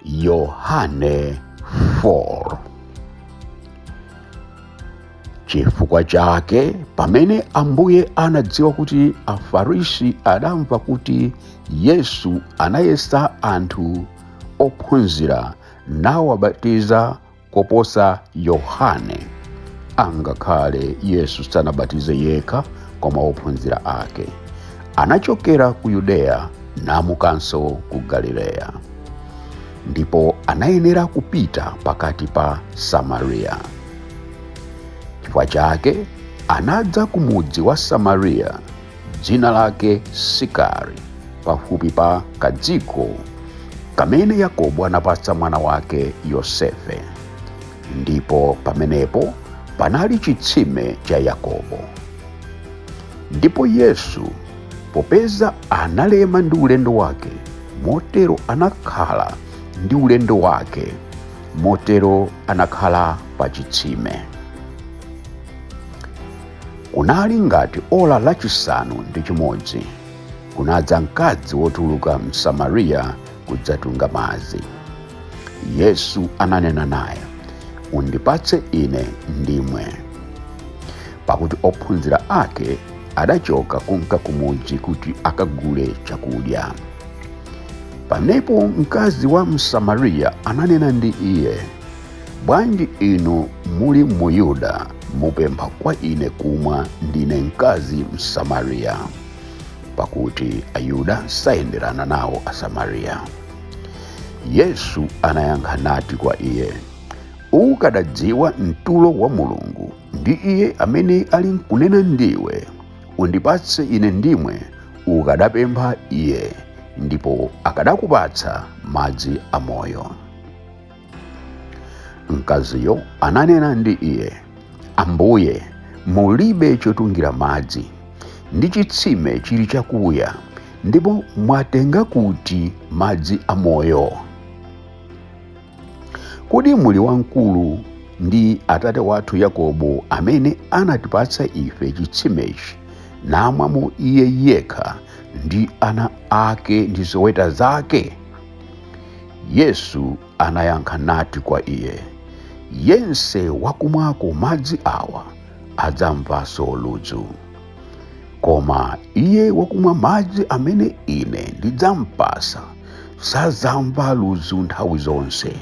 yohane 4 chifukwa chake pamene ambuye anadziwa kuti afarisi adamva kuti yesu anayesa anthu ophunzira nawabatiza koposa Yohane. Angakhale Yesu sanabatize yekha koma ophunzira ake. Anachokera ku Yudeya namukanso ku Galileya. Ndipo anayenera kupita pakati pa Samariya. Chifukwa chake anadza ku mudzi wa Samariya dzina lake sikari pafupi pa kadziko kamene yakobo anapatsa mwana wake yosefe ndipo pamenepo panali chitsime cha yakobo ndipo yesu popeza analema ndi ulendo wake motero anakhala ndi ulendo wake motero anakhala pa chitsime kunali ngati ola lachisanu ndi chimodzi kunadza mkazi wotuluka m'samariya kudzatunga madzi yesu ananena naye undipatse ine ndimwe pakuti ophunzira ake adachoka kumka kumudzi kuti akagule chakudya pamenepo mkazi wa msamariya ananena ndi iye bwanji inu muli muyuda mupempha kwa ine kumwa ndine mkazi msamariya pakuti ayuda sayenderana nawo asamariya yesu anayankha nati kwa iye ukadadziwa mtulo wa mulungu ndi iye amene alinkunena ndi iwe undipatse ine ndimwe ukadapempha iye ndipo akadakupatsa madzi amoyo mkaziyo ananena ndi iye ambuye mulibe chotungira madzi ndi chitsime chili chakuya ndipo mwatenga kuti madzi amoyo kodi muli wamkulu ndi atate wathu yakobo amene anatipatsa ife chitsimechi namwamo iye yekha ndi ana ake ndi zoweta zake Yesu anayankha nati kwa iye, Yense wakumwako madzi awa adzamvanso ludzu. Koma iye wakumwa madzi amene ine ndidzampatsa sadzamva ludzu nthawi zonse,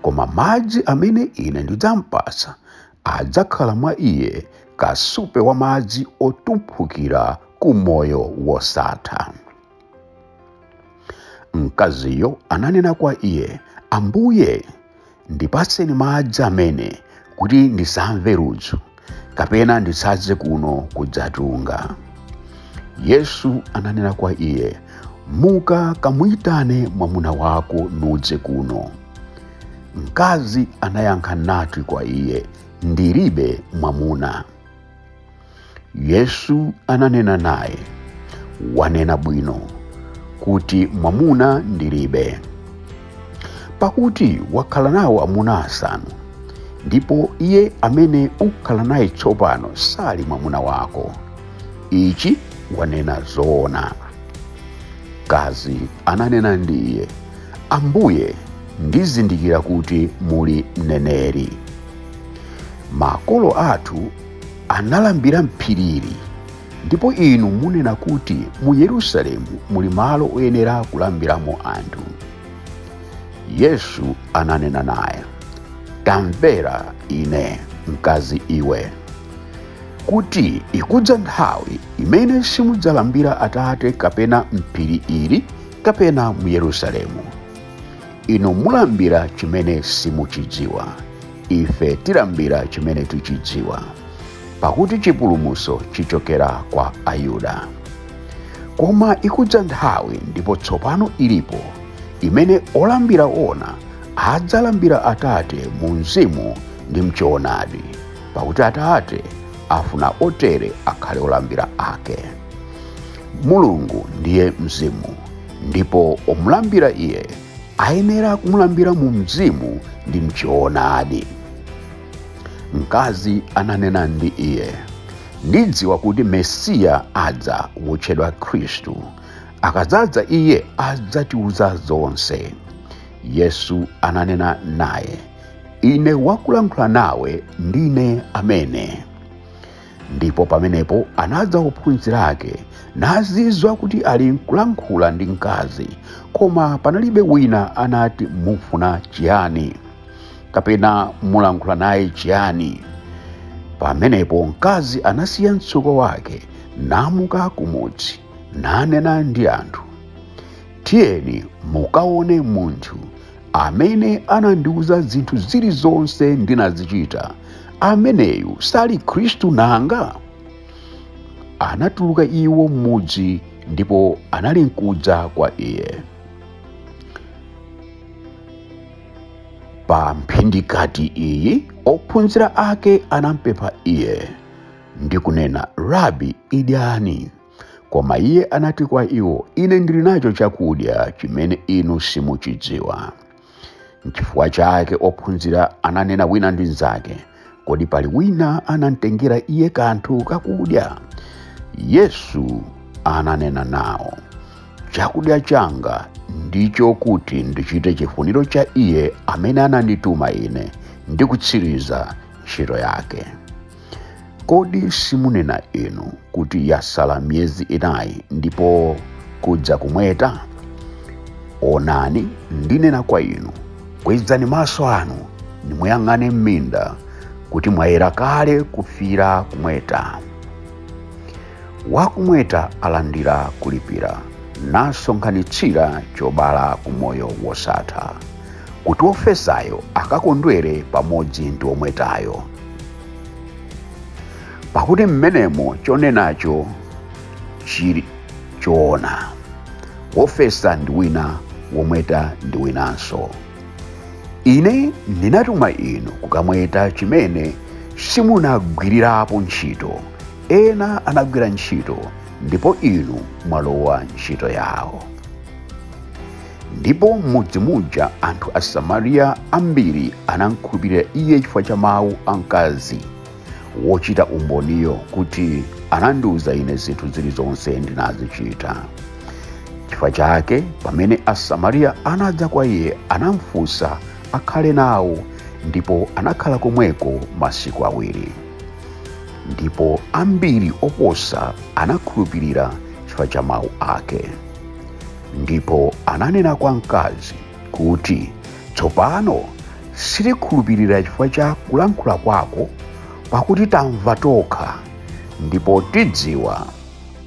koma madzi amene ine ndidzampatsa adzakhala mwa iye kasupe wa madzi otumphukira ku moyo wosatha. mkaziyo ananena kwa iye ambuye ndipatseni madzi amene kuti ndisamve ludzu kapena ndisadze kuno kudzatunga yesu ananena kwa iye muka kamuyitane mwamuna wako nudze kuno mkazi anayankha nati kwa iye ndilibe mwamuna yesu ananena naye wanena bwino kuti mwamuna ndilibe pakuti wakhala nawo amuna asanu ndipo iye amene ukhala naye tsopano sali mwamuna wako ichi wanena zoona mkazi ananena ndi iye ambuye ndizindikira kuti muli mneneri makolo athu analambira m'phiri ili ndipo inu munena kuti mu yerusalemu muli malo oyenera kulambiramo anthu yesu ananena naye tamvera ine mkazi iwe kuti ikudza nthawi imene simudzalambira atate kapena m'phiri ili kapena mu yerusalemu inu mulambira chimene simuchidziwa ife tilambira chimene tichidziwa pakuti chipulumutso chichokera kwa ayuda koma ikudza nthawi ndipo tsopano ilipo imene olambira oona adzalambira atate mu mzimu ndi mchoonadi pakuti atate afuna otere akhale olambira ake mulungu ndiye mzimu ndipo omulambira iye ayenera kumulambira mu mzimu ndi mchoonadi mkazi ananena ndi iye ndidziwa kuti mesiya adza wotchedwa khristu akadzadza iye adzatiuza zonse yesu ananena naye ine wakulankhula nawe ndine amene ndipo pamenepo anadza ophunzira ake nazizwa kuti ali nkulankhula ndi mkazi koma panalibe wina anati mufuna chiyani kapena mulankhula naye chiyani pamenepo mkazi anasiya mtsuko wake namuka kumudzi nanena ndi anthu Tiyeni mukaone munthu amene anandiuza zinthu zilizonse ndinazichita. Ameneyu sali Khristu nanga? Anatuluka iwo m'mudzi ndipo anali nkudza kwa iye. Pa mphindikati iyi ophunzira ake anampempha iye ndi kunena, Rabi, idyani. Koma iye anati kwa iwo, Ine ndili nacho chakudya chimene inu simuchidziwa. Nchifukwa chake ophunzira ananena wina ndi mnzake, Kodi pali wina anamtengera iye kanthu kakudya? Yesu ananena nawo, Chakudya changa ndicho kuti ndichite chifuniro cha iye amene anandituma ine ndi kutsiriza ntchito yake. Kodi simunena inu kuti yasala miyezi inayi ndipo kudza kumweta? Onani, ndinena kwa inu, kwezani maso anu nimuyang'ane m'minda kuti mwayera kale kufira kumweta. Wakumweta alandira kulipira nasonkhanitsira chobala ku moyo wosatha, kuti wofesayo akakondwere pamodzi ndi womwetayo. pakuti mmenemo chonenacho chili choona wofesa ndi wina womweta ndi winanso ine ndinatuma inu kukamweta chimene simunagwirirapo ntchito ena anagwira ntchito ndipo inu mwalowa ntchito yawo ndipo m'mudzi muja anthu asamariya ambiri anamkhulupirira iye chifukwa cha mawu a mkazi wochita umboniyo kuti anandiwuza ine zinthu zilizonse ndinazichita chifukwa chake pamene asamariya anadza kwa iye anamfunsa akhale nawo ndipo anakhala komweko masiku awiri ndipo ambiri oposa anakhulupirira chifukwa cha mawu ake ndipo ananena kwa mkazi kuti tsopano sitikhulupirira chifukwa cha kulankhula kwako pakuti tamva tokha ndipo tidziwa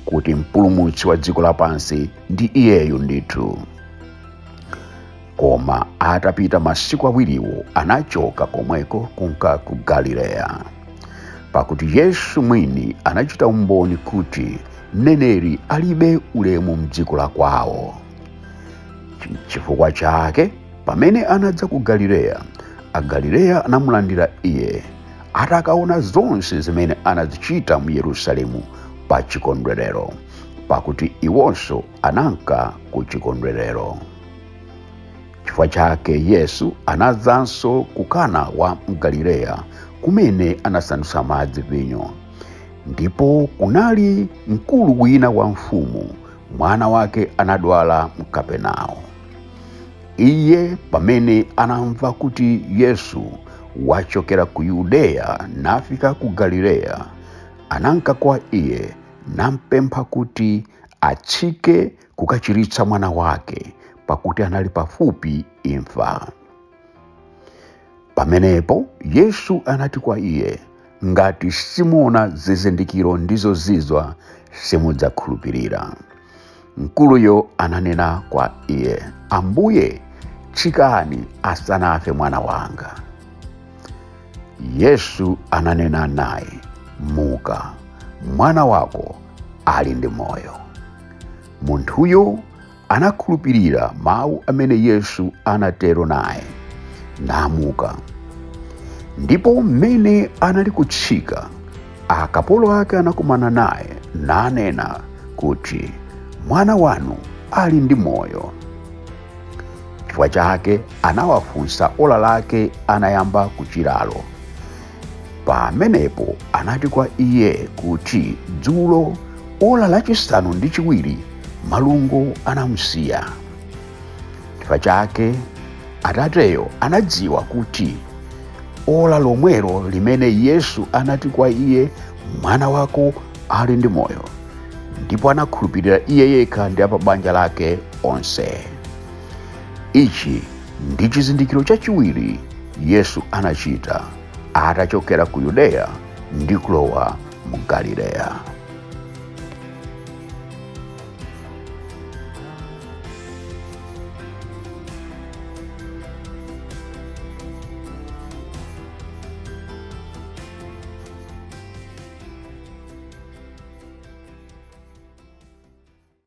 kuti mpulumutsi wa dziko lapansi ndi iyeyu ndithu koma atapita masiku awiriwo anachoka komweko kunka ku galileya pakuti yesu mwini anachita umboni kuti mneneri alibe ulemu mdziko la kwawo chifukwa chake pamene anadza ku galileya agalileya anamulandira iye atakaona zonse zimene anazichita mu yerusalemu pa chikondwerero pakuti iwonso ananka ku chikondwerero chifukwa chake yesu anadzanso ku kana wa mgalileya kumene anasandutsa madzi vinyo ndipo kunali mkulu wina wa mfumu mwana wake anadwala mkapenao iye pamene anamva kuti yesu wachokera ku yudeya nafika ku galileya ananka kwa iye nampempha kuti atsike kukachiritsa mwana wake pakuti anali pafupi imfa pamenepo yesu anati kwa iye ngati simuona zizindikiro ndi zozizwa simudzakhulupirira mkuluyo ananena kwa iye ambuye tsikani asanafe mwana wanga yesu ananena naye muka mwana wako ali ndi moyo munthuyo anakhulupirira mawu amene yesu anatero naye namuka ndipo mmene anali kutsika akapolo ake anakumana naye nanena kuti mwana wanu ali ndi moyo chifukwa chake anawafunsa ola lake anayamba kuchiralo pamenepo anati kwa iye kuti dzulo ola lachisanu ndi chiwiri malungo anamsiya chifukwa chake atateyo anadziwa kuti ola lomwelo limene yesu anati kwa iye mwana wako ali ndi moyo ndipo anakhulupirira iye yekha ndi a pabanja lake onse ichi ndi chizindikiro chachiwiri yesu anachita atachokera ku yudeya ndi kulowa mu galileya